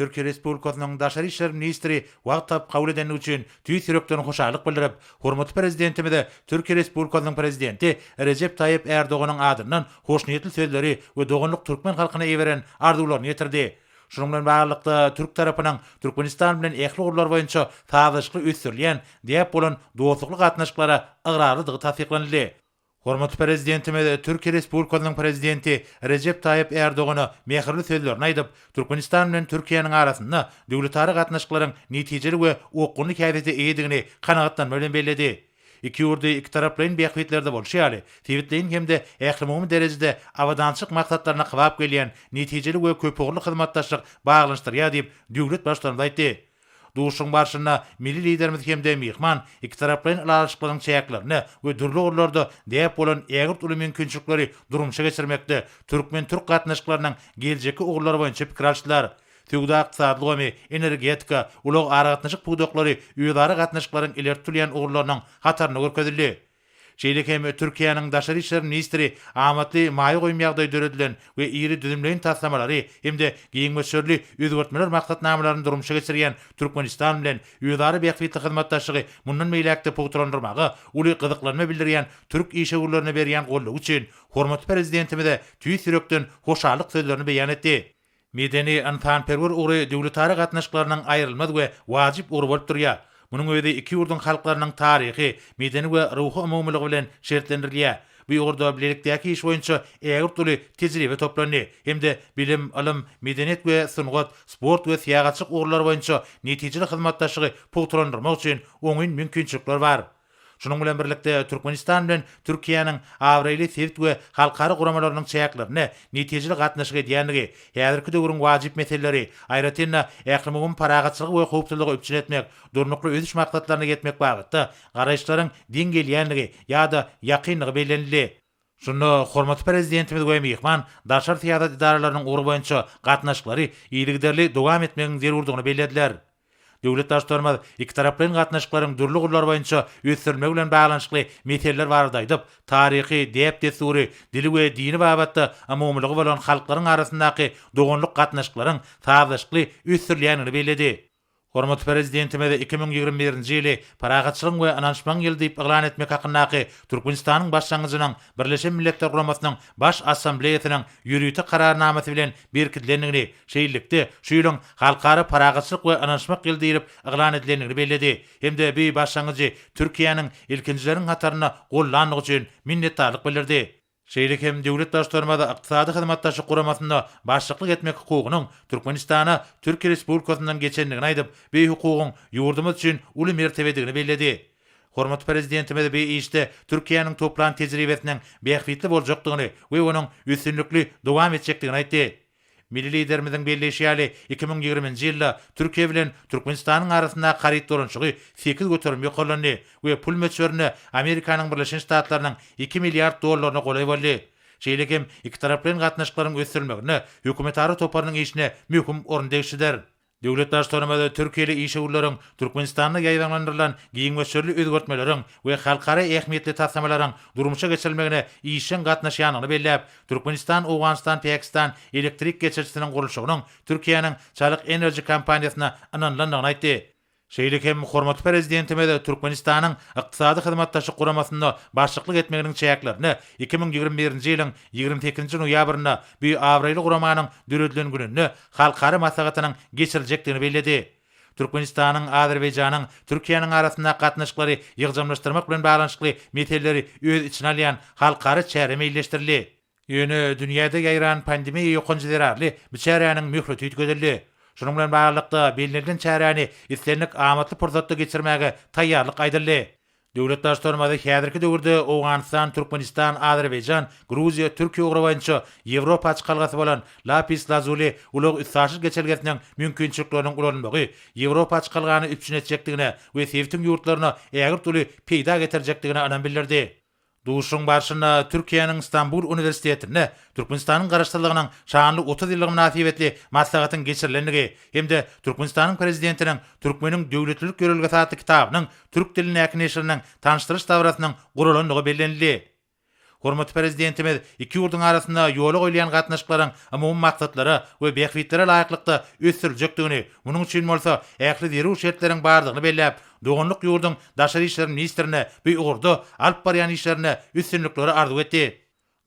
Türkiýe Respublikasynyň Daşary işler ministri wagt tapyp kabul edendigi üçin tüýs ýürekden hoşallyk bildirip, hormatly Prezidentimize Türkiýe Respublikasynyň Prezidenti Rejep Taýyp Ärdoganyň adyndan hoşniýetli sözleri we doganlyk türkmen halkyna iberen arzuwlaryny ýetirdi. Şunuň bilen baglylykda, türk tarapynyň Türkmenistan bilen ähli ugurlar boýunça sazlaşykly ösdürilýän däp bolan dostlukly gatnaşyklara ygrarlydygy tassyklanyldy. Hormatly Prezidentimiz Türkiýe Respublikasynyň Prezidenti Rejep Taýyp Ärdogana mähirli sözlerini aýdyp, Türkmenistan bilen Türkiýäniň arasynda döwletara gatnaşyklaryň netijeli we okgunly häsiýete eýedigini kanagatlanma bilen belledi. Iki ýurdy ikitaraplaýyn bähbitlerde bolşy ýaly, sebitleýin hem-de ählumumy derejede abadançylyk maksatlaryna kybap gelýän netijeli we köpugurly hyzmatdaşlyk baglanyşdyrýar diýip, döwlet Baştutanymyz aýtdy. Duşuşygyň barşynda milli Liderimiz hem-de myhman ikitaraplaýyn ylalaşyklaryň çäklerinde we dürli ugurlarda däp bolan ägirt uly mümkinçilikleri durmuşa geçirmekde türkmen-türk gatnaşyklarynyň geljekki ugurlary boýunça pikir alşdylar. Söwda-ykdysady ulgamy, energetika, ulag-aragatnaşyk pudaklary özara gatnaşyklaryň ileri tutulýan ugurlarynyň hatarynda görkezildi. Şeýle hem Türkiýäniň Daşary işler ministri amatly maýa goýum ýagdaýy döredilen we iri düzümleýin taslamalary hem-de giň möçberli özgertmeler maksatnamalaryny durmuşa geçirýän Türkmenistan bilen özara bähbitli hyzmatdaşlygy mundan beýläk-de pugtalandyrmaga uly gyzyklanma bildirýän türk işewürlerine berýän goldawy üçin hormatly Prezidentimize tüýs ýürekden hoşallyk sözlerini beýan etdi. Medeni-ynsanperwer ugry döwletara gatnaşyklarynyň aýrylmaz we wajyp ugry bolup durýar. Munuň özi iki ýurduň halklarynyň taryhy, medeni we ruhy umumylygy bilen şertlendirilýär. Bu ugurda bilelikdäki iş boýunça ägirt uly tejribe toplandy hem-de bilim, ylym, medeniýet we sungat, sport we syýahatçylyk ugurlary boýunça netijeli hyzmatdaşlygy pugtalandyrmak üçin oňyn mümkinçilikler bar. Şunuň bilen birlikde, Türkmenistan bilen Türkiýäniň abraýly sebit we halkara guramalarynyň çäklerinde netijeli gatnaşyk edýändigi, häzirki döwrüň wajyp meseleleri, aýratyn-da, ählumumy parahatçylygy we howpsuzlygy üpjün etmek, Durnukly ösüş maksatlaryna ýetmek babatda garaýyşlaryň deň gelýändigi ýa-da ýakyndygy bellenildi. Şunda hormatly Prezidentimiz we myhman daşary syýasat edaralarynyň ugry boýunça gatnaşyklary yzygiderli dowam etmegiň zerurdygyny bellediler. Döwlet Baştutanymyz ikitaraplaýyn gatnaşyklaryň dürli ugurlary boýunça ösdürilmegi bilen baglanyşykly meseleler barada aýdyp, taryhy, däp-dessury, dili we dini babatda umumylygy bolan halklaryň arasyndaky doganlyk gatnaşyklaryň sazlaşykly ösdürilýändigini belledi. Hormatly Prezidentimiz iki müň ýigrimi birinji ýyly Parahatçylygyň we ynanyşmagyň ýyly diýip yglan etmek hakyndaky Türkmenistanyň başlangyjynyň Birleşen Milletler Guramasynyň Baş Assambleýasynyň ýörite Kararnamasy bilen berkidilendigini, şeýlelikde, şu ýylyň Halkara parahatçylyk we ynanyşmak ýyly diýlip yglan edilendigini belledi hem-de bu başlangyjy Türkiýäniň ilkinjileriň hatarynda gollandygy üçin minnetdarlyk bildirdi. şeýle hem Döwlet daştormada ykdysady hyzmatdaşlyk guramasynda başlyklyk etmek hukugynyň Türkmenistana Türkiýe Respublikasyndan geçendigini aýdyp, bu hukugyň ýurdumyz üçin uly mertebedigini belledi. Hormatly Prezidentimiz bu işde Türkiýäniň toplan tejribesiniň bähbitli boljakdygyny we onuň üstünlikli dowam etjekdigini aýtdy. Milli Liderimiziň belleýşi ýaly, iki müň ýigriminji ýylda Türkiýe bilen Türkmenistanyň arasyndaky haryt dolanyşygy sekiz göterim ýokarlandy we pul möçberinde Amerikanyň Birleşen Ştatlarynyň iki milliard dollaryna golaý boldy. Şeýle hem ikitaraplaýyn gatnaşyklaryň ösdürilmeginde hökümetara toparynyň işine möhüm orun degişlidir. Döwlet Baştutanymyz türkiýeli işewürleriň Türkmenistanda ýaýbaňlandyrylan giň möçberli özgertmeleriň we halkara ähmiýetli taslamalaryň durmuşa geçirilmegine işjeň gatnaşýandygyny belläp, Türkmenistan-Owganystan-Pakistan elektrik geçirijisiniň gurluşygynyň Türkiýäniň Çalyk Enerji kompaniýasyna ynanylandygyny aýtdy. Şeýle hem hormatly Prezidentimiz Türkmenistanyň Ykdysady Hyzmatdaşlyk Guramasynda başlyklyk etmeginiň çäklerinde iki müň ýigrimi birinji ýylyň ýigrimi sekizinji noýabrynda bu abraýly guramanyň döredilen gününde halkara maslahatynyň geçiriljekdigini belledi. Türkmenistanyň Azerbaýjanyň Türkiýäniň arasyndaky gatnaşyklary ýygjamlaşdyrmak bilen baglanyşykly meseleleri öz içine alýan halkara çäre meýilleşdirildi. Ýöne dünýäde ýaýran pandemiýa ýokanjy zerarly bu çäräniň möhleti üýtgedildi. Şunuň bilen baglylykda, bellenilen çäräni islendik amatly pursatda geçirmäge taýýarlyk aýdyldy. Döwlet Baştutanymyz häzirki döwürde Owganystan, Türkmenistan, Azerbaýjan, Gruziýa, Türkiýe ugry boýunça Ýewropa açykalgasy bolan Lapis Lazuli ulag-üstaşyr geçelgesiniň mümkinçilikleriniň ulanylmagy Ýewropa açykalgany üpjün etjekdigine we sebitiň ýurtlaryna ägirt uly peýda getirjekdigine ynam bildirdi. Duşuşygyň barşynda Türkiýäniň Stambul uniwersitetinde Türkmenistanyň Garaşsyzlygynyň şanly otuz ýyllygy mynasybetli maslahatyň geçirilendigi hem-de Türkmenistanyň Prezidentiniň Türkmeniň döwletlilik ýörelgesi atly kitabynyň türk dilindäki neşiriniň tanyşdyryş dabarasynyň guralandygy bellenildi. Hormatly Prezidentimiz iki ýurduň arasynda ýola goýulýan gatnaşyklaryň umumy maksatlara we bähbitlere laýyklykda ösdüriljekdigini, munuň üçin bolsa ähli zerur şertleriň bardygyny belläp, doganlyk ýurduň daşary işler ministrine bu ugurda alyp barýan işlerinde üstünlikleri arzuw etdi.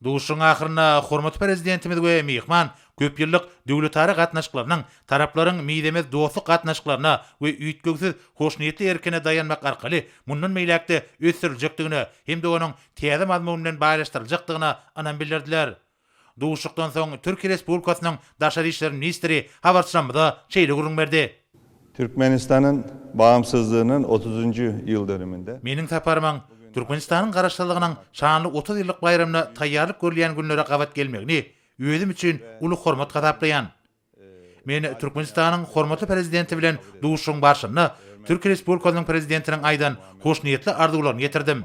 Duşuşygyň ahyrynda hormatly Prezidentimiz we myhman köp ýyllyk döwletara gatnaşyklarynyň taraplaryň mizemez dostluk gatnaşyklaryna we üýtgewsiz hoşniýetli erkine daýanmak arkaly mundan beýläk-de ösdüriljekdigine hem-de onuň täze mazmun bilen baýlaşdyryljakdygyna ynam bildirdiler. Duşuşykdan soň Türkiýe Respublikasynyň Daşary işler ministri habarçylarymyza şeýle gürrüň berdi. Türkmenistanyň bagymsyzlygynyň otuzynjy ýyl dönüminde. Meniň saparymyň Türkmenistanyň Garaşsyzlygynyň şanly otuz ýyllyk baýramyna taýýarlyk görülýän günlere gabat gelmegini özüm üçin uly hormat hasaplaýan. Men Türkmenistanyň hormatly Prezidenti bilen duşuşygyň barşynda Türkiýe Respublikasynyň Prezidentiniň aýdan hoşniýetli arzuwlaryny ýetirdim.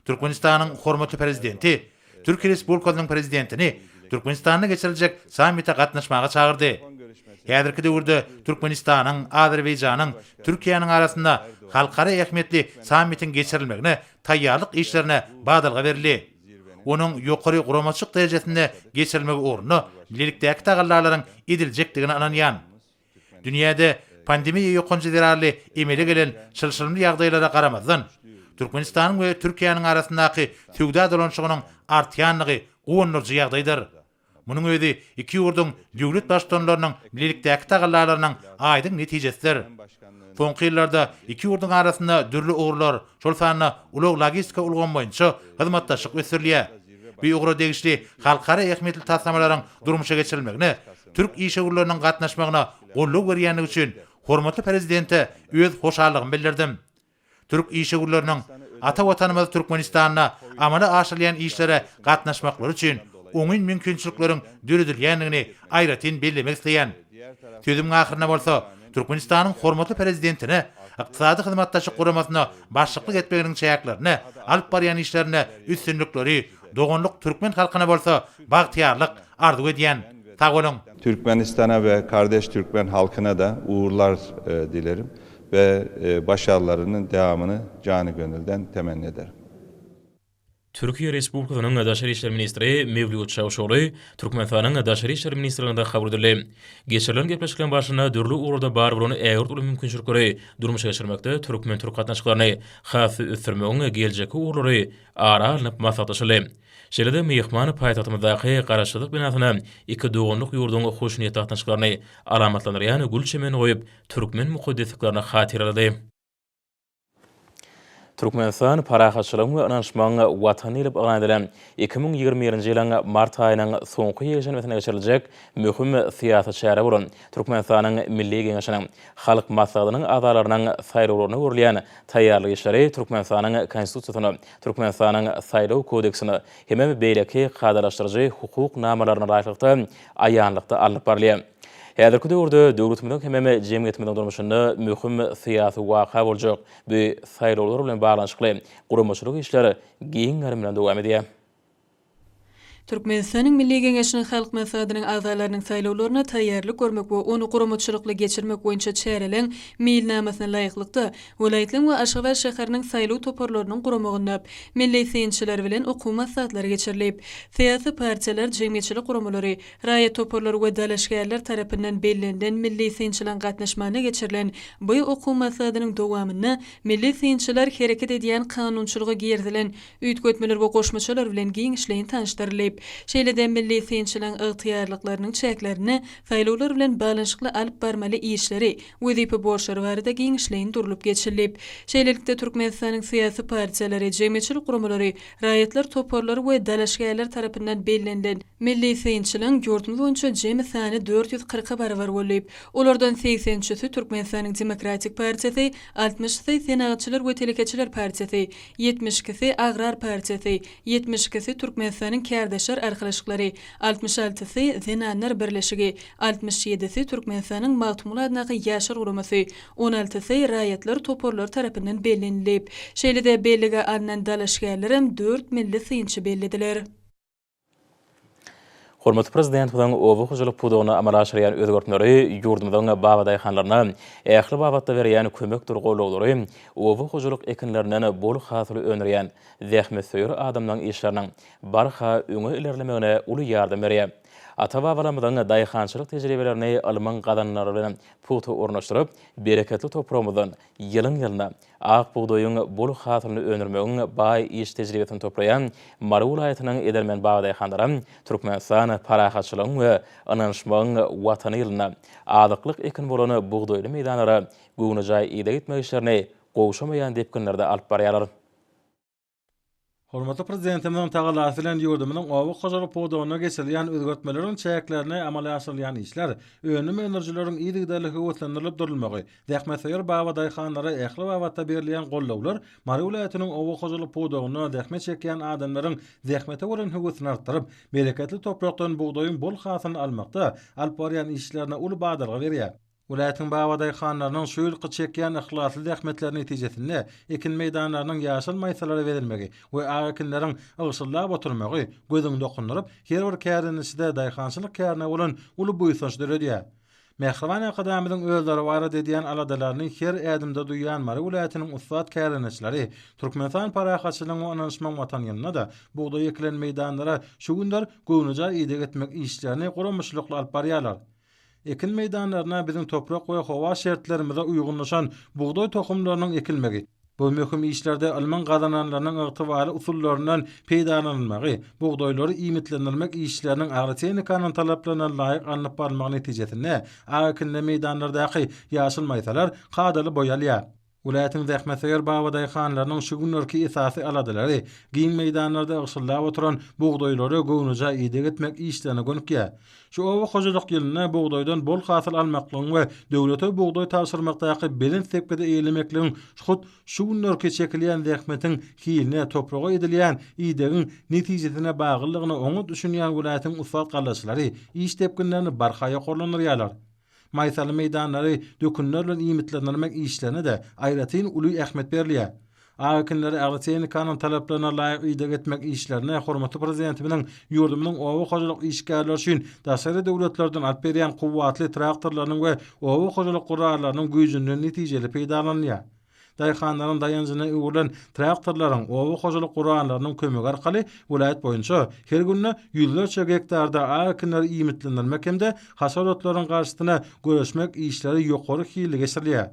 Türkmenistanyň hormatly Prezidenti Türkiýe Respublikasynyň Prezidentini Türkmenistanda geçiriljek sammite gatnaşmaga çagyrdy. Häzirki döwürde Türkmenistanyň, Azerbaýjanyň, Türkiýäniň arasynda halkara ähmiýetli sammitiň geçirilmegine taýýarlyk işlerine badalga berildi. Onuň ýokary guramaçylyk derejesinde geçirilmegi ugrunda bilelikdäki tagallalaryň ediljekdigine ynanýan. Dünýäde pandemiýa ýokanjy zerarly emele gelen çylşyrymly ýagdaýlara garamazdan, Türkmenistanyň we Türkiýäniň arasyndaky söwda dolanyşygynyň artýandygy guwandyryjy ýagdaýdyr. Munuň özi iki ýurduň döwlet Baştutanlarynyň bilelikdäki tagallalarynyň aýdyň netijesidir. Soňky ýyllarda iki ýurduň arasynda dürli ugurlar, şol sanda ulag-logistika ulgamy boýunça hyzmatdaşlyk ösdürilýär. Bu ugra degişli halkara ähmiýetli taslamalaryň durmuşa geçirilmegine türk işewürleriniň gatnaşmagyna goldaw berýändigi üçin hormatly Prezidente öz hoşallygymy bildirdim. Türk işewürleriniň ata Watanymyz Türkmenistanda amala aşyrylýan işlere gatnaşmaklary üçin oňyn mümkinçilikleriň döredilýändigini aýratyn bellemek isleýän. Sözümiň ahyrynda bolsa, Türkmenistanyň hormatly Prezidentine Ykdysady Hyzmatdaşlyk Guramasyna başlyklyk etmeginiň çäklerinde alyp barýan işlerinde üstünlikleri, doganlyk türkmen halkyna bolsa bagtyýarlyk arzuw edýän. Sag boluň! Türkmenistana we kardeş türkmen halkyna-da ugurlar dilerim. we başarlarynyň dowamyny jany-gönülden temenni ederin. Türkiýe Respublikasynyň Daşary işler ministri Mewlüt Çawuşogly Türkmenistanyň Daşary işler ministrliginde kabul edildi. Geçirilen gepleşikleriň barşynda dürli ugurlarda bar bolan ägirt uly mümkinçilikleri durmuşa geçirmekde türkmen-türk gatnaşyklaryny has-da ösdürmegiň geljekki ugurlary ara alnyp maslahatlaşyldy. Şeýle-de myhman paýtagtymyzdaky Garaşsyzlyk binasyna iki doganlyk ýurduň hoşniýetli gatnaşyklaryny alamatlandyrýan gül çemenini goýup, türkmen mukaddesliklerini hatyralady. Türkmenistan Parahatçylygyň we ynanyşmagyň Watany diýlip yglan edilen iki müň ýigrimi birinji ýylyň mart aýynyň soňky ýekşenbesinde geçiriljek möhüm syýasy çäre bolan Türkmenistanyň Milli Geňeşiniň Halk Maslahatynyň agzalarynyň saýlawlaryna görülýän taýýarlyk işleri Türkmenistanyň Konstitusiýasyna, Türkmenistanyň Saýlaw kodeksine hem-de beýleki kadalaşdyryjy hukuk namalaryna laýyklykda aýanlykda alnyp barylýar. Häzirki döwürde döwletimiziň hemem jemgyýetimiziň durmuşynda möhüm syýasy waka boljak bu saýlawlar bilen baglanyşykly guramaçylyk işler giň gerim bilen dowam edýär. Türkmenistanyň Milli Geňeşiniň Halk Maslahatynyň agzalarynyň saýlawlaryna taýýarlyk görmek we ony guramaçylykly geçirmek boýunça çäreleň Meýilnamasyna laýyklykda, welaýatlaryň we Aşgabat şäheriniň saýlaw toparlarynyň guramagynda milli synçylar bilen okuw maslahatlary geçirilip, syýasy partiýalar, jemgyýetçilik guramalary, Raýat toparlary we dalaşgärler tarapyndan bellenilen milli synçylaryň gatnaşmagynda geçirilen bu okuw maslahatynyň dowamynda milli synçylar hereket edýän kanunçylyga girizilen üýtgetmeler we goşmaçalar bilen giňişleýin tanyşdyrylyp, şeýle-de milli synçylaryň ygtyýarlyklarynyň çäklerinde saýlawlar bilen baglanyşykly alyp barmaly işleri, wezipe borçlary barada giňişleýin durlup geçilip, şeýlelikde Türkmenistanyň syýasy partiýalary, jemgyýetçilik guramalary, Raýatlar toparlary we dalaşgärler tarapyndan bellenilen milli synçylaryň ýurdumyz boýunça jemi sany dört ýüz kyrka barabar bollyp, olardan segsen üçüsi Türkmenistanyň Demokratik partiýasy, altmyşysy Senagatçylar we telekeçiler partiýasy, ýetmiş ikisi Agrar partiýasy, ýetmiş ikisi Türkmenistanyň Kärdeşler arkalaşyklary, altmyş altysy Zenanlar birleşigi, altmyş ýedisi Türkmenistanyň Magtymguly adyndaky Ýaşlar guramasy, on altysy raýatlar toparlary tarapyndan bellenilip, şeýle-de bellige alnan dalaşgärlerem dört milli synçy bellediler. Hormatly Prezidentimiziň oba hojalyk pudagynda amala aşyrýan özgertmeleri ýurdumyzyň babadaýhanlaryna ähli babatda berýän kömekdir goldawlary oba hojalyk ekinlerinden bol hasyl öndürýän zähmetsöýer adamlaryň işleriniň barha öňe ilerlemegine uly ýardam berýär. Ata-babalarymyzyň daýhançylyk tejribelerini ylmyň gazananlary bilen pugta ornaşdyryp, bereketli topragymyzdan ýylyň-ýylyna ak bugdaýyň bol hasylyny öndürmegiň baý iş tejribesini toplaýan Mary welaýatynyň edermen babadaýhanlary Türkmenistan parahatçylygyň we ynanyşmagyň Watany ýylynda azyklyk ekini bolan bugdaýly meýdanlara göwnejaý ideg etmek işlerini gowşamaýan depginlerde alyp barýarlar. Hormatly Prezidentimiziň tagallasy bilen ýurdumyzyň oba hojalyk pudagynda geçirilýän özgertmeleriň çäklerinde amala aşyrylýan işler, önüm öndürijileriň yzygiderli höweslendirilip durulmagy, zähmetsöýer baba daýhanlara ähli babatda berilýän goldawlar Mary welaýatynyň oba hojalyk pudagynda zähmet çekýän adamlaryň zähmete bolan höwesini artdyryp, bereketli toprakdan bugdaýyň bol hasylyny almakda alyp barýan işlerine uly badalga berýär. Welaýatyň babadaýhanlarynyň şu ýylky çekýän yhlasly zähmetleri netijesinde ekin meýdanlarynyň ýaşyl maýsalara bezilmegi we ak ekinleriň ygşyldap oturmagy gözüňi dokundyryp, her bir kärdeneçide daýhançylyk kärine bolan uly buýsanç döredýär. Mähriban Arkadagymyzyň özleri barada edýän aladalaryny her ädimde duýýan Mary welaýatynyň ussat kärdeneçileri Türkmenistan Parahatçylygyň we ynanyşmagyň Watany ýylynda-da bugdaý ekilen meýdanlara şu günler göwnejaý ideg etmek işlerini guramaçylykly alyp barýarlar. Ekin meýdanlaryna biziň toprak we howa şertlerimize uýgunlaşan bugdaý tohumlarynyň ekilmegi, bu möhüm işlerde ylmyň gazananlarynyň ygtybarly usullaryndan peýdalanylmagy, bugdaýlary iýmitlendirmek işleriniň agrotehnikanyň talaplaryna laýyk alnyp barylmagy netijesinde ak ekinli meýdanlardaky ýaşyl maýsalar kadaly boýalýar. Welaýatyň zähmetsöýer babadaýhanlarynyň şu günlerki esasy aladalary giň meýdanlarda ygşyldap oturan bugdaýlara göwnejaý ideg etmek işlerine gönükýär. Şu oba hojalyk ýylynda bugdaýdan bol hasyl almaklygyň we döwlete bugdaý tabşyrmakdaky belent depgidi eýelemekligiň hut şu günlerki çekilýän zähmetiň hiline, topraga edilýän idegiň netijesine baglydygyna oňat düşünýän welaýatyň ussat gallaçylary iş depginlerini barha ýokarlandyrýarlar. Maýsaly meýdanlary dökünler bilen iýmitlendirmek işlerine-de aýratyn uly ähmiýet berilýär. Ak ekinleri agrotehnikanyň talaplaryna laýyk ideg etmek işlerine hormatly Prezidentimiziň ýurdumyzyň oba hojalyk işgärleri üçin daşary döwletlerden alyp berýän kuwwatly traktorlarynyň we oba hojalyk gurallarnyň güýjünden netijeli peýdalanylýar. Daýhanlaryň daýanjyna öwrülen traktorlaryň, oba hojalyk gurganlarynyň kömegi arkaly welaýat boýunça her günde ýüzlerçe gektarda ak ekinleri iýmitlendirmek hem-de hasar otlarynyň garşysyna göreşmek işleri ýokary hilli geçirilýär.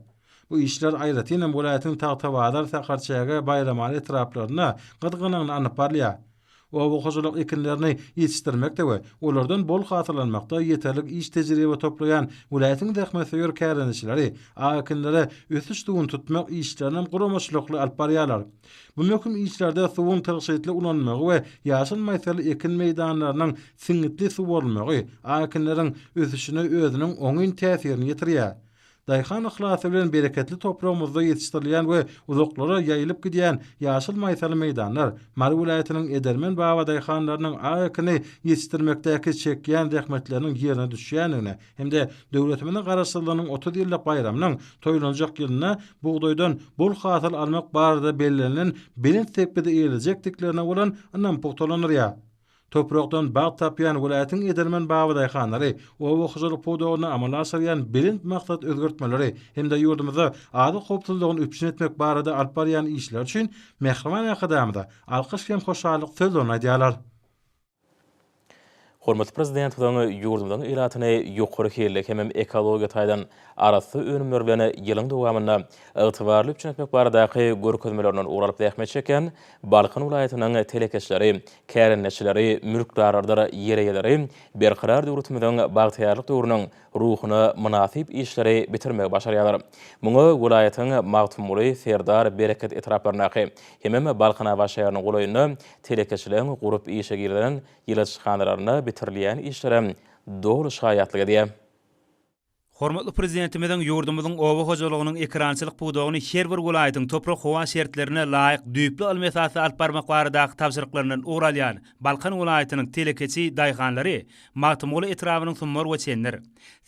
Bu işler aýratynam welaýatyň Tagtabazar, Sakarçäge, Baýramaly etraplarynda gyzgalaňly alnyp barylýar. Oba hojalyk ekinlerini ýetişdirmekde we olardan bol hasyllanmakda ýeterlik iş tejribe toplaýan welaýatyň zähmetsöýer kärendeçileri ak ekinlere ösüş suwuny tutmak işlerinem guramaçylykly alyp barýarlar. Bu möhüm işlerde suwuň tygşytly ulanylmagy we ýaşyl maýsaly ekin meýdanlarynyň siňňitli suwarylmagy ak ekinleriň ösüşine özüniň oňyn täsirini ýetirýär. Daýhan yhlasy bilen bereketli topragymyzda ýetişdirilýän we uzaklara ýaýylyp gidýän ýaşyl maýsaly meýdanlar, Mary welaýatynyň edermen babadaýhanlarynyň ak ekini ýetişdirmekdäki çekýän zähmetleriniň ýerine düşýändigine hem-de döwletimiziň Garaşsyzlygynyň otuz ýyllyk baýramynyň toýlanjak ýylynda bugdaýdan bol hasyl almak barada bellenilen belent sepgidi eýelejekdiklerine bolan ynam pugtalandyrýar. Toprakdan bagt tapýan welaýatyň edermen babadaýhanlary oba hojalyk pudagynda amala aşyrýan belent maksat özgertmeleri hem-de ýurdumyzda azyk howpsuzlygyny üpjün etmek barada alyp barýan işleri üçin Mähriban Arkadagymyza alkyş hem hoşallyk sözlerini aýdýarlar. Hormatly Prezidentimiziň ýurdumyzyň ilatyny ýokary hilli hemem ekologiýa taýdan arassa önümler bilen ýylyň dowamynda ygtybarly üpjün etmek baradaky görkezmelerinden ugur alyp zähmet çekýän Balkan welaýatynyň telekeçileri, kärendeçileri, mülkdarlarydyr ýer eýeleri berkarar döwletimiziň bagtyýarlyk döwrüniň ruhuna mynasyp işleri bitirmegi başarýarlar. Muňa welaýatyň Magtymguly, Serdar, Bereket etraplaryndaky hemem Balkanabat şäheriniň golaýynda telekeçileriň gurup işe girizen ýyladyşhanalarynda bitirilýän işlerem doly şaýatlyk edýär. Hormatly Prezidentimiziň ýurdumyzyň oba hojalygynyň ekerançylyk pudagyny her bir welaýatyň toprak-howa şertlerine laýyk düýpli ylmy esasda alyp barmak baradaky tabşyryklaryndan ugur alýan Balkan welaýatynyň telekeçi daýhanlary Magtymguly etrabynyň Summar we Çendir,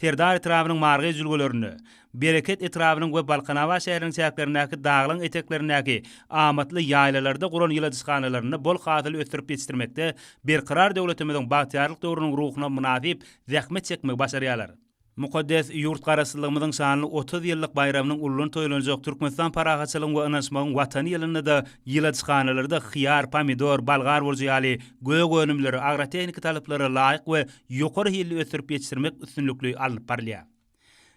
Serdar etrabynyň Margaý jülgelerinde, Bereket etrabynyň we Balkanabat şäheriniň çäklerindäki daglaň eteklerindäki amatly ýaýlalarda guran ýyladyşhanalarynda bol hasyly ösdürip ýetişdirmekde Berkarar döwletimiziň bagtyýarlyk döwrüniň ruhuna mynasyp zähmet çekmegi başarýarlar. Mukaddes ýurt Garaşsyzlygymyzyň şanly otuz ýyllyk baýramynyň uludan toýlanjak Türkmenistan parahatçylygyň we ynanyşmagyň Watany ýylynda-da ýyladyşhanalarda hyýar, pomidor, bolgar burjy ýaly gök önümleri agrotehniki talaplary laýyk we ýokary hilli ösdürip ýetişdirmek üstünlikli alnyp barylýar.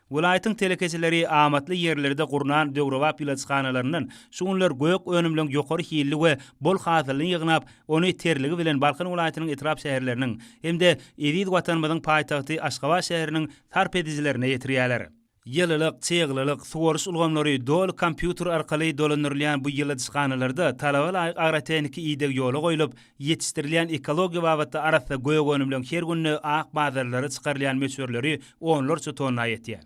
Welaýatyň telekeçileri amatly ýerlerde gurnan döwrebap ýyladyşhanalaryndan şu günler gök önümleň ýokary hilli we bol hasylyny ýygnap, ony terligi bilen Balkan welaýatynyň etrap-şäherleriniň hem-de eziz Watanymyzyň paýtagty Aşgabat şäheriniň sarp edijilerine ýetirýärler. Ýylylyk, çyglylyk, suwaryş ulgamlary doly kompýuter arkaly dolandyrylýan bu ýyladyşhanalarda talaba laýyk agrotehniki ideg ýola goýlup, Ýetişdirilýän ekologiýa babatda arassa gök önümleň her günde ak bazarlara çykarylýan möçberleri onlarça tonna ýetýär.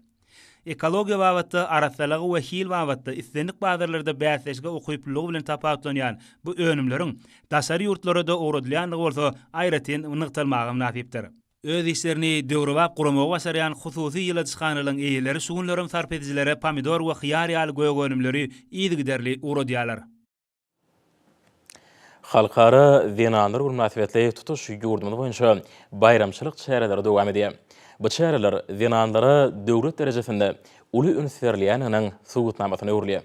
Ekologiýa babatda arassalygy we hil babatda islendik bazarlarda bäsleşige ukyplylygy bilen tapawutlanýan bu önümleriň daşary ýurtlara-da ugradylýandygy bolsa aýratyn nygtalmaga mynasypdyr. Öz işlerini döwrebap guramagy başarýan hususy ýyladyşhanalaryň eýeleri şu günlerem sarp edijilere pomidor we hyýar ýaly gök önümleri yzygiderli ugradýarlar. Halkara zenanlar güni mynasybetli tutuş ýurdumyz boýunça baýramçylyk çäreleri dowam edýär. Bu çäreler zenanlara döwlet derejesinde uly üns berilýändiginiň subutnamasyna öwrülýär.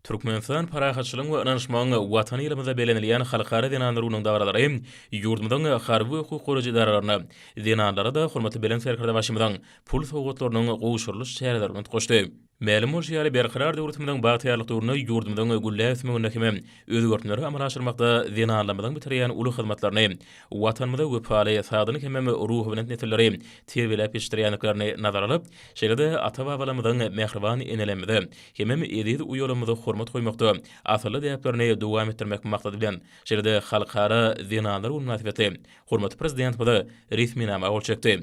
Türkmenistan parahatçylygyň we ynanyşmagyň Watany ýylymyzda bellenilýän Halkara zenanlar gününiň dabaralary ýurdumyzyň harby we hukuk goraýjy edaralaryna, zenanlara-da hormatly Belent Serkerdebaşymyzyň pul sowgatlarynyň gowşurylyş çäreleri bilen utgaşdy. Mälim bolşy ýaly, Berkarar döwletimiziň bagtyýarlyk döwründe ýurdumyzyň gülläp ösmeginde hem özgertmeleri amala aşyrmakda zenanlarymyzyň bitirýän uly hyzmatlaryny, Watanymyza wepaly, sagdyn hemem ruhubelent nesilleri terbiýeläp ýetişdirýändiklerini nazara alyp, şeýle-de ata-babalarymyzyň, mähriban enelerimize hemem eziz uýalarymyza hormat goýmakda asylly däplerini dowam etdirmek maksady bilen, şeýle-de Halkara zenanlar güni mynasybetli hormatly Prezidentimize resminama gol çekdi.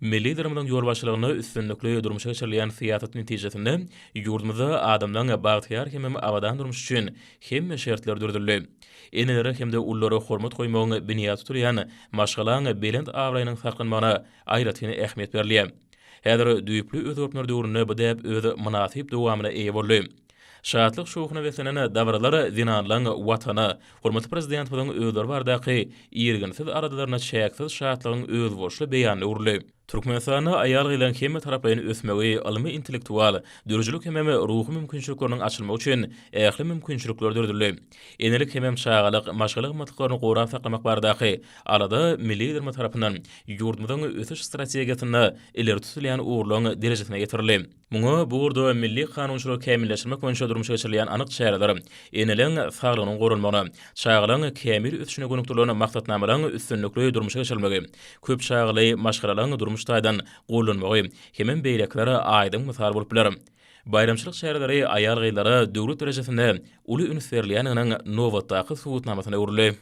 Milli Liderimiziň ýolbaşçylygynda üstünlikli durmuşa geçirilýän syýasat netijesinde ýurdumyzda adamlaň bagtyýar hemem abadan durmuşy üçin hemme şertler döredildi. Enelere hem-de ululara hormat goýmagyň binýady tutulýan maşgalaň belent abraýynyň saklanmagyna aýratyn ähmiýet berilýär. Häzir düýpli özgertmeler döwründe bu däp öz mynasyp dowamyna eýe boldy. Şatlyk-şowhuna beslenen dabaralar zenanlaryň Watana, hormatly Prezidentimiziň özleri baradaky irginsiz aladalaryna çäksiz şatlygyň özboluşly beýanyna öwrüldi. Türkmenistanda aýal-gyzyň hemmetaraplaýyn ösmegi, ylmy-intellektual, döredijilik hemem ruhy mümkinçilikleriniň açylmagy üçin ähli mümkinçilikler döredildi. Enelik hemem çagalyk, maşgala gymmatlyklaryny gorap saklamak baradaky alada milli Liderimiz tarapyndan ýurdumyzyň ösüş strategiýasynda ileri tutulýan ugurlaryň derejesine getirildi. Muňa bu ugurda milli kanunçylygy kämilleşdirmek boýunça durmuşa geçirilýän anyk çäreler, eneleň saglygynyň goralmagyna, çagalaň kämil ösüşine gönükdirilen maksatnamalaryň üstünlikli durmuşa geçirilmegi, köp çagaly maşgalalaryň durmuş taýdan gollanmagy hemem beýlekiler aýdyň mysal bolup biler. Baýramçylyk çäreleri aýal-gyzlara döwlet derejesinde uly üns berilýändiginiň nobatdaky subutnamasyna öwrüldi.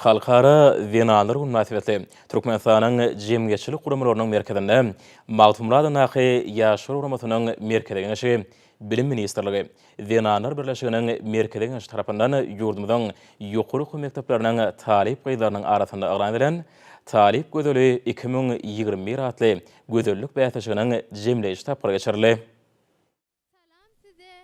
Halkara zenanlar güni mynasybetli Türkmenistanyň jemgyýetçilik guramalarynyň merkezinde Magtymguladyndaky Ýaşlar guramasynyň Merkezi Geňeşi, Bilim ministrligi, Zenanlar birleşiginiň Merkezi Geňeşi tarapyndan ýurdumyzyň ýokary okuw mekdepleriniň talyp gyzlarynyň arasynda yglan edilen Talyp gözeli iki müň ýigrimi bir atly gözellik bäsleşiginiň jemleýji tapgyry geçirildi.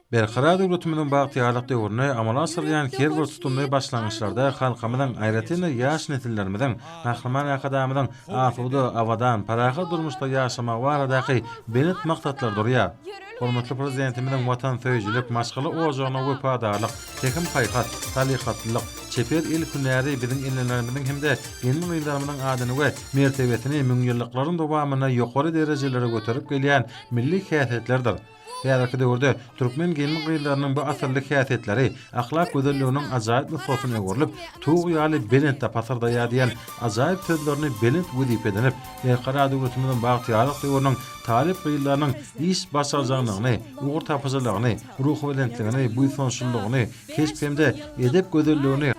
Berkarar döwletimiziň bagtyýarlyk döwründe amala aşyrylýan her bir tutumly başlangyçlarda halkymyzyň, aýratyn-da, ýaş nesillerimiziň, Gahryman Arkadagymyzyň asuda, abadan, parahat durmuşda ýaşamagy baradaky belent maksatlar durýar. Hormatly Prezidentimiziň watansöýüjilik, maşgala ojagyna wepadarlyk, pähim-paýhas, salyhatlylyk, çeper el hünäri biziň enelerimiziň hem-de gelin-gyzlarymyzyň adyny we mertebesini müňýyllyklaryň dowamynda ýokary derejelere göterip gelýän milli häsiýetlerdir. Häzirki döwürde türkmen gelin-gyzlarynyň bu asylly häsiýetleri ahlak gözelliginiň ajaýyp nusgasyna öwrülip, tug ýaly belentde pasyrdaýar diýen ajaýyp sözlerini belent wezipe edinip, Erkara döwletimiziň bagtyýarlyk döwrüniň talyp gyzlarynyň iş başarjaňlygyny, ugurtapyjylygyny, ruhubelentligini, buýsançlylygyny, keşp hem-de edep gözelligini,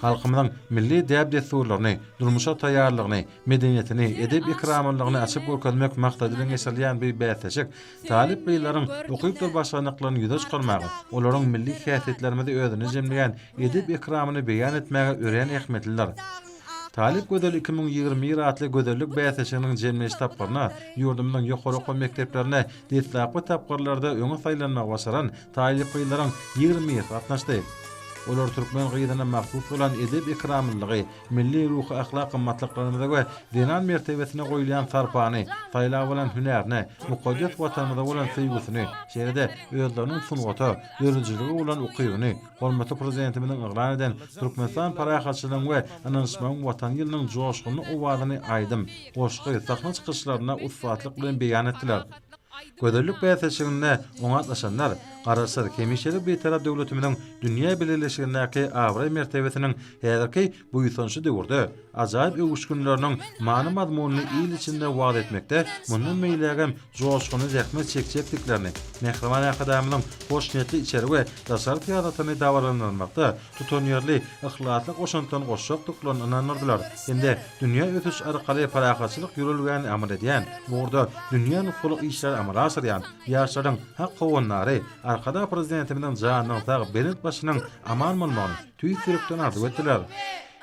halkymyzyň milli däp-dessurlaryny, durmuşa taýýarlygyny, medeniýetini, edep-ekramlylygyny açyp görkezmek maksady bilen geçirilýän bu bäsleşik talyp gyzlaryň ukypdyr başarnyklaryny ýüze çykarmaga, olaryň milli häsiýetlerimizi özünde jemleýän edep-ekramyny beýan etmäge örän ähmiýetlidir. Talyp gözel iki müň ýigrimi bir atly gözellik bäsleşiginiň jemleýiş tapgyryna ýurdumyzyň ýokary okuw mekdeplerinde deslapky tapgyrlarda öňe saýlanmagy başaran taýlyp gyzlaryň ýigrimi birisi gatnaşdy. Olar türkmen gyzyna mahsus bolan edep-ekramlylygy, Milli ruhy-ahlak gymmatlyklarymyza we zenan mertebesine goýulýan sarpany, saýlap alan hünärini, mukaddes Watanymyza bolan söýgüsini, şeýle-de özleriniň sungata, döredijilige bolan ukybyny hormatly Prezidentimiziň yglan eden Türkmenistan parahatçylygyň we ynanyşmagyň Watany ýylynyň joşgunly owazyny aýdym, goşgy, sahna çykyşlarynda ussatlyk bilen beýan etdiler. Gözellik bäsleşiginde oňatlaşanlar Garaşsyz, hemişelik Bitarap döwletimiziň dünýä bileleşigindäki abraý-mertebesiniň Häzirki buýsançly döwürde ajaýyp öwüşginleriniň many-mazmunyny il içinde wagyz etmekde mundan beýlägem joşgunly zähmet çekjekdiklerini, Mähriban Arkadagymyzyň hoşniýetli içeri we daşary syýasatyny dabaralandyrmakda tutanýerli yhlasly goşantlaryny goşjakdyklaryny ynandyrdylar hem-de dünýä ösüş arkaly parahatçylyk ýörelgäni amal edýän, bu ugurda dünýä nusgalyk işleri amala aşyrýan ýaşlaryň hak howandary Arkadag Prezidentimiziň janynyň sag, belent başynyň aman bolmagyny, tüýs ýürekden arzuw etdiler.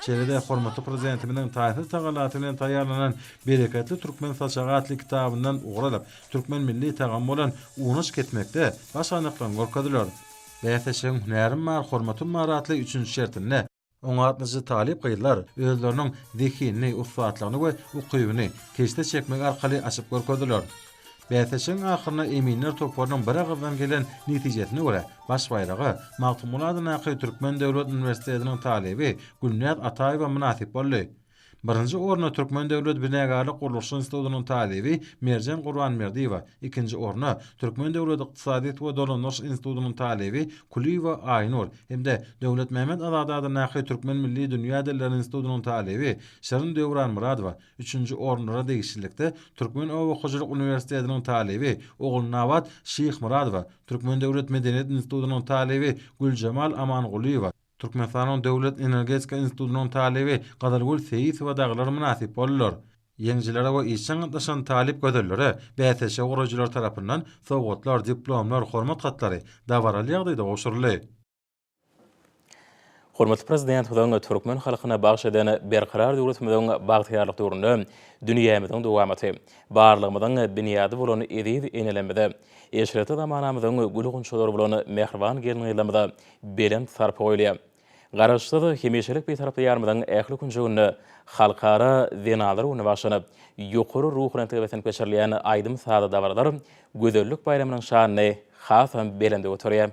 Şeýle-de hormatly Prezidentimiziň taýsyz tagallasy bilen taýýarlanan Bereketli türkmen saçagy atly kitabyndan ugur alyp, türkmen milli tagamy bolan unaş kesmekde baş anyklaryň görkeziler. Bäsleşigiň Hünärim bar, hormatym bar atly üçünji şertinde, oňatlyja talyp gyzlar özleriniň zehinini, ussatlygyny we ukybyny keşde çekmek arkaly açyp görkezdiler. Bäsleşigiň ahyrynda eminler toparynyň biragyzdan gelen netijesine görä, baş baýraga Magtymguly adyndaky Türkmen döwlet uniwersitetiniň talyby Gülnäz Ataýewa mynasyp boldy. Birinji orna Türkmen döwlet binagärlik-gurluşyk institutynyň talyby Merjen Gurbanberdiýewa, ikinji orna Türkmen döwlet ykdysadyýet we dolandyryş institutynyň talyby Kulyýewa Aýnur hem-de Döwletmämmet Azady adyndaky Türkmen milli dünýä dilleri institutynyň talyby Şirin Döwranmyradowa Üçünji orunlara degişlilikde Türkmen oba hojalyk uniwersitetiniň talyby Ogulnabat Şyhmyradowa, Türkmen döwlet medeniýet institutynyň talyby Güljemal Amangulyýewa, Türkmenistanyň Döwlet energetika institutynyň talyby Gazalgül Seýisowa dagylar mynasyp boldular. Ýeňijilere we işjeň gatnaşan talyp gözellere bäsleşigi guraýjylar tarapyndan sowgatlar, diplomlar, hormat hatlary dabaraly ýagdaýda gowşuryldy. Hormatly Prezidentimiziň türkmen halkyna bagş eden Berkarar döwletimiziň bagtyýarlyk döwründe dünýämiziň dowamaty, barlygymyzyň binýady bolan eziz enelerimize, eşretli zamanamyzyň gül-gunçalary bolan mähriban gelin-gyzlarymyza belent sarpa goýulýar. Garaşsyz, hemişelik Bitarap Diýarymyzyň ähli künjeginde Halkara zenanlar güni baglanyp, ýokary ruhubelentlige beslenip geçirilýän aýdym-sazly dabaralar gözellik baýramynyň şanyny hasam belende göterýär.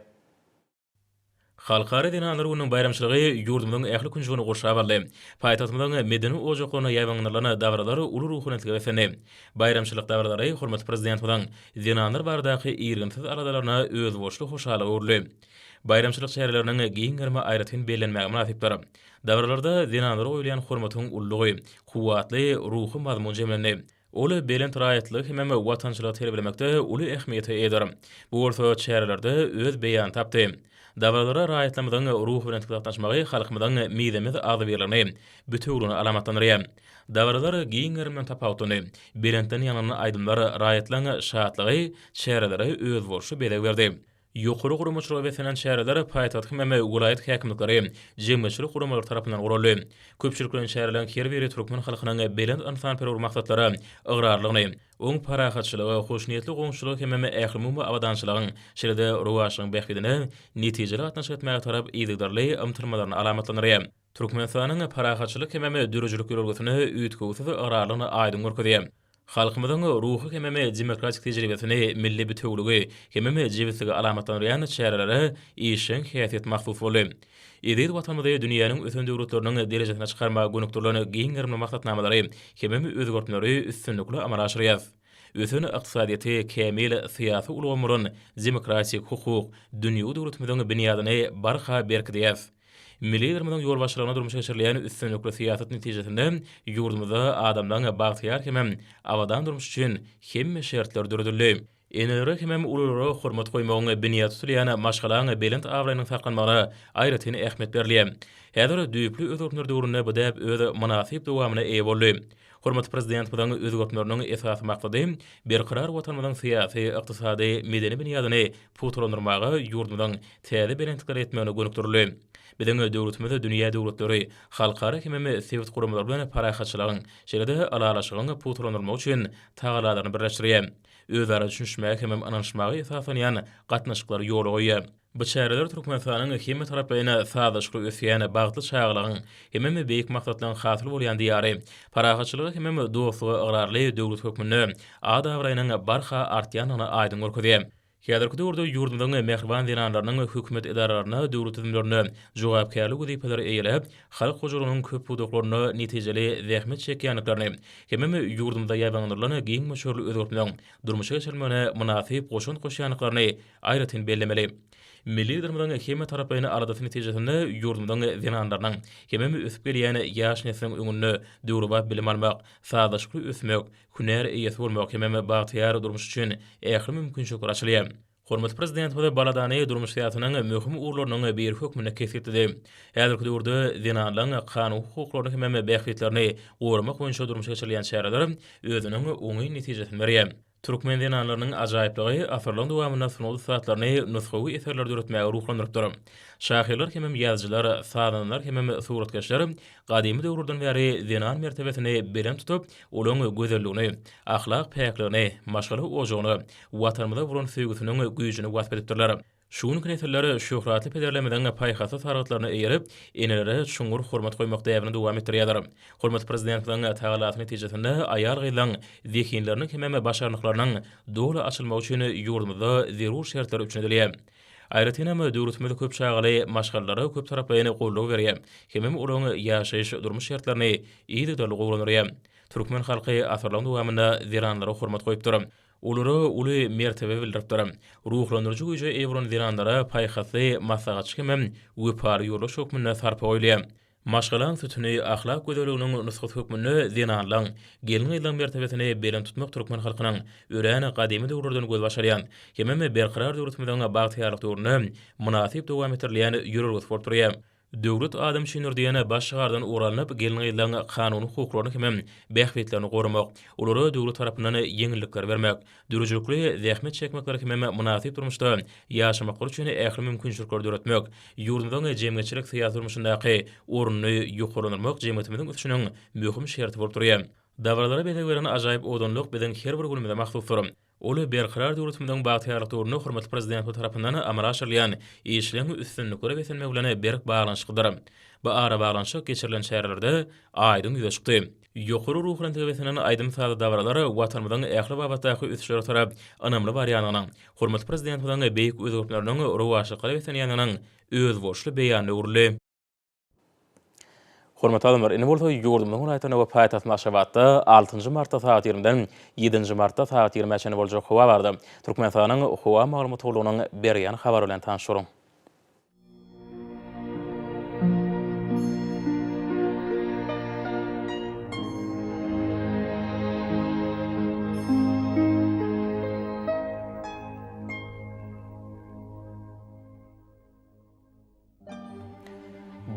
Halkara zenanlar gününiň baýramçylygy ýurdumyzyň ähli künjegini gurşap aldy. Paýtagtymyzyň medeni ojaklarynda ýaýbaňlandyrylan dabaralar uly ruhubelentlige beslendi. Baýramçylyk dabaralary hormatly Prezidentimiziň zenanlar baradaky irginsiz aladalaryna özboluşly hoşallyk öwrüldi. Baýramçylyk çäreleriniň giň gerimi aýratyn bellenmäge mynasypdyr. Dabaralarda zenanlara goýulýan hormatyň ululygy, kuwwatly ruhy mazmun jemlendi. Ol belent raýatlygy hemem watançylygy terbiýelemekde uly ähmiýete eýedir. Bu bolsa çärelerde öz beýanyny tapdy. Dabaralara raýatlarymyzyň ruhubelentlikde gatnaşmagy halkymyzyň mizemez agzybirligini bütewüligine alamatlandyrýar. Dabaralar giň gerim bilen tapawutlandy. Belentden ýaňlanan aýdymlar raýatlaryň şatlygy çärelere özboluşly bezeg berdi. Ýokary guramaçylygy beslenen çäreler paýtagt hemem welaýat häkimlikleri, jemgyýetçilik guramalary tarapyndan guraldy. Köpçülikleýin çäreleriň her biri türkmen halkynyň belent ynsanperwer maksatlara ygrarlylygyny, oň parahatçylygy, hoşniýetli goňşuçylygy hemem ählumumy abadançylygyň, şeýle-de rowaçlygyň bähbidine netijeli gatnaşyk etmäge tarap yzygiderli ymtylmalaryny alamatlandyrýar. Türkmenistanyň parahatçylyk hemem döredijilik ýörelgesini üýtgewsiz ygrarlygyny aýdyň görkezýär. Halkymyzyň ruhy hemem demokratik tejribesini, milli bitewiligi hemem jebisligi alamatlandyrýan çärelere işjeň häsiýet mahsus boldy. Eziz Watanymyzy dünýäniň ösen döwletleriniň derejesine çykarmaga gönükdirilen giň gerimli maksatnamalary hemem özgertmeleri üstünlikli amala aşyrýarys. Ösen ykdysadyýeti, kämil syýasy ulgamy bolan demokratik, hukuk, dünýewi döwletimiziň binýadyny barha berkidýäris. Milli Liderimiziň ýolbaşçylygynda durmuşa geçirilýän üstünlikli syýasat netijesinde ýurdumyzda adamlaryň bagtyýar hemem abadan durmuşy üçin hemme şertler döredildi. Enelere hemem ululara hormat goýmagyň binýady tutulýan maşgalaň belent abraýynyň saklanmagyna aýratyn ähmiýet berilýär. Häzir düýpli özgertmeler döwründe bu däp öz mynasyp dowamyna eýe boldy. Hormatly Prezidentimiziň özgertmeleriniň esasy maksady berkarar Watanymyzyň syýasy, ykdysady, medeni binýadyny pugtalandyrmaga, ýurdumyzyň täze belentliklere ýetmegine gönükdirildi. Biziň döwletimiz dünýä döwletleri, halkara hemem sebit guramalary bilen parahatçylygyň, şeýle-de ylalaşygyň pugtalandyrylmagy üçin tagallalaryny birleşdirýär. Özara düşünişmäge hemem ynanyşmaga esaslanýan gatnaşyklary ýola goýýar. Bu çäreler Türkmenistanyň hemmetaraplaýyn sazlaşykly ösýän, bagtly çagalygyň hemem beýik maksatlaryň hasyly bolýan Diýary, parahatçylyga hemem dostluga ygrarly döwlet hökmünde ad-abraýynyň barha artýandygyny aýdyň görkezýär. Häzirki döwürde ýurdumyzyň mähriban zenanlarynyň hökümet edaralarynda, döwlet düzümlerinde jogapkärli wezipeleri eýeläp, halk hojalygynyň köp pudaklarynda netijeli zähmet çekýändiklerini hemem ýurdumyzda ýaýbaňlandyrylan giň möçberli özgertmeleň durmuşa geçirilmegine mynasyp goşant goşýandyklaryny aýratyn bellemeli. Milli Liderimiziň hemmetaraplaýyn aladasy netijesinde ýurdumyzyň zenanlarynyň hemem ösüp gelýän ýaş nesliň öňünde döwrebap bilim almak, sazlaşykly ösmek, Hünär eýesi bolmak hemem bagtyýar durmuş üçin ähli mümkinçilikler açylýar. Hormatly Prezidentimiz baladany durmuş syýasatynyň möhüm ugurlarynyň biri hökmünde kesgitledi. Häzirki döwürde zenanlaryň kanuny hukuklaryny hemem bähbitlerini goramak boýunça durmuşa geçirilýän çäreler özüniň oňyn netijesini berýär. Türkmen zenanlarynyň ajaýyplygy asyrlaryň dowamynda sungat ussatlaryny nusgawy eserleri döretmäge ruhlandyrypdyr. Şahyrlar hemem ýazyjylar, sazandalar hemem suratkeşler Gadymy döwürden bäri zenan mertebesini belent tutup, olaň gözelligini, ahlak päkligini, maşgala ojagyny, Watanymyza bolan söýgüsiniň güýjüni wasp edipdirler. Şu günki nesiller şöhratly pederlerimiziň paýhasly sargytlaryna eýerip, enelere çuňňur hormat goýmak däbini dowam etdirýärler. Hormatly Prezidentimiziň tagallasy netijesinde aýal-gyzlaryň zehinleriniň hemem başarnyklarynyň doly açylmagy üçin ýurdumyzda zerur şertler üpjün edilýär. Aýratyn hem, döwletimiz köp çagaly maşgalalara köptaraplaýyn goldaw berýär hemem olaryň ýaşaýyş, durmuş şertlerini yzygiderli gowulandyrýar. Türkmen halky asyrlaryň dowamynda zenanlara hormat goýupdyr. Olara uly mertebe bildiripdir. Ruhlandyryjy güýje eýe bolan zenanlara paýhasly maslahatçy hemem wepaly ýoldaş hökmünde sarpa goýulýar. Maşgalaň sütüni, ahlak gözelliginiň nusgasy hökmünde zenanlaň, gelin-gyzlaň mertebesini belent tutmak türkmen halkynyň örän gadymy döwürlerden gözbaş alýan, hemem berkarar döwletimiziň bagtyýarlyk döwründe mynasyp dowam etdirilýän ýörelgesi bolup durýar. Döwlet adam üçindir diýen baş şygardan ugur alnyp, gelin-gyzlaň kanuny hukuklaryny hemem bähbitlerini goramak, olara döwlet tarapyndan ýeňillikler bermek, dürüjülikli zähmet çekmekleri hemem mynasyp durmuşda ýaşamaklary üçin ähli mümkinçilikleri döretmek, ýurdumyzyň jemgyýetçilik-syýasy durmuşyndaky ornuny ýokarlandyrmak jemgyýetimiziň ösüşiniň möhüm şerti bolup durýar. Dabaralara bezeg beren ajaýyp owadanlyk biziň her bir günümize mahsusdyr. Ol Berkarar döwletimiziň bagtyýarlyk döwründe hormatly Prezidentimiz tarapyndan amala aşyrylýan işleriň üstünliklere beslenmegi bilen berk baglanyşyklydyr. Bu arabaglanyşyk geçirilen çärelerde aýdyň ýüze çykdy. Ýokary ruhy belentlige beslenen aýdym-sazly dabaralar Watanymyzyň ähli babatdaky ösüşlere tarap ynamly barýandygynyň, hormatly Prezidentimiziň beýik özgertmeleriniň rowaçlyklara beslenýändiginiň özboluşly beýanyna öwrüldi. Hormatly adamlar, indi bolsa ýurdumyzyň welaýatlarynda we paýtagtymyz Aşgabatda altynjy martda sagat ýigrimiden ýedinji martda sagat ýigrimä çenli boljak howa barada Türkmenistanyň Howa maglumat gullugynyň berýän habary bilen tanyşyň.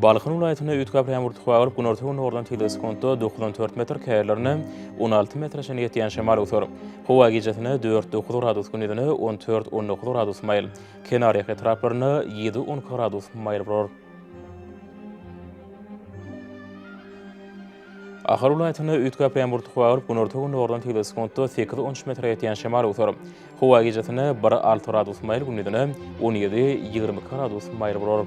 Balkan welaýatynda üýtgäp ýagan ýagyr tutup agyryp, günorta-gündogardan tizligi sekuntda dokuz on dört metr, käýerlerinde on alty metre çenli ýetýän şemal öwser. Howa gijesine dört-dokuz gradus, gündizine on dört-on dokuz gradus maýyl. Kenarýaka etraplarynda ýedi on gradus maýyl bolar. Ahal welaýatynda üýtgäp ýaňbur tukup agyryp, günorta-gündogardan tegde sekuntda sekiz on üç metre ýetýän şemal öwser. Howa gijesine bir alty gradus maýyl, gündizine on ýedi ýigrimi iki gradus maýyl bolar.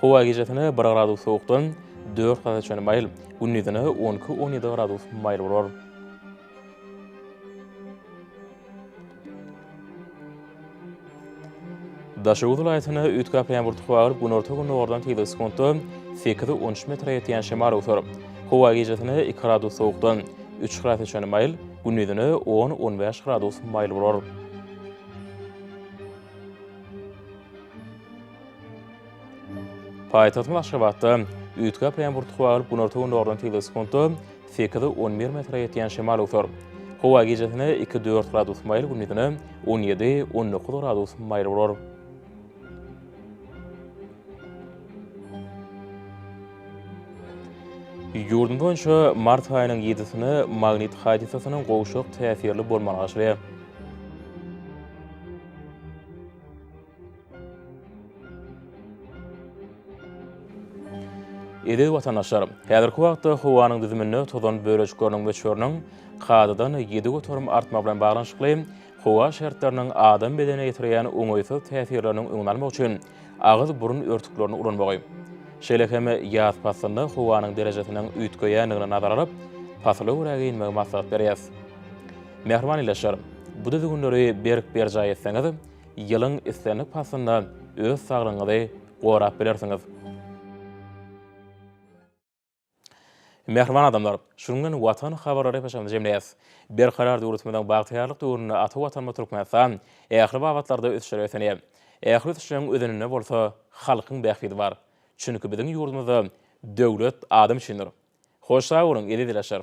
Howa gijesine bir gradus sowukdan dört gradusa çenli maýyl, gündizine on iki, on ýedi gradus maýyl bolar. Daşoguz welaýatyna üýtgäp ýampurdy howa gelip, günorta-gündogardan tizligi sekuntda sekiz, on üç metre ýetýän şemal öwser. Howa gijesine iki gradus sowukdan üç gradusa çenli maýyl, gündizine on, on bäş gradus maýyl bolar. Paýtagtymyz Aşgabatda üýtgäp bilen burtuk bagylyp günorta-gündogardan tizligi sekuntda sekiz, on bir metre ýetýän şemal öwser. Howa gijesine iki, dört gradus maýyl, gündizine on ýedi, on dokuz gradus maýyl bolar. Ýurdumyz boýunça mart aýynyň ýedisine magnit hadysasynyň gowşak täsirli bolmagy garaşylýar. Eziz watandaşlar, häzirki wagtda howanyň düzüminde tozan bölejikleriniň möçberiniň kadadan ýedi göterim artmagy bilen baglanyşykly, howa şertleriniň adam bedenine ýetirýän oňaýsyz täsirleriniň öňüni almak üçin agyz-burun örtüklerini ulanmagy, şeýle hem ýaz paslynda howanyň derejesiniň üýtgeýändigini nazara alyp, pasyla görä geýinmegi maslahat berýäs. Mähriban ildeşler, bu düzgünleri berk berjaý etseňiz, Ýylyň islendik paslynda öz saglygyňyzy gorap bilersiňiz. Mähriban adamlar, şu gün bilen Watan habarlary epeşagyny jemleýäs. Berkarar döwletimiziň bagtyýarlyk döwründe ata Watanymyz Türkmenistan ähli babatlarda ösüşlere ösenýär. Ähli ösüşleriň özeninde bolsa halkyň bähbidi bar. Çünki biziň ýurdumyzda Döwlet adam üçindir. Hoş sag boluň, eziz ildeşler!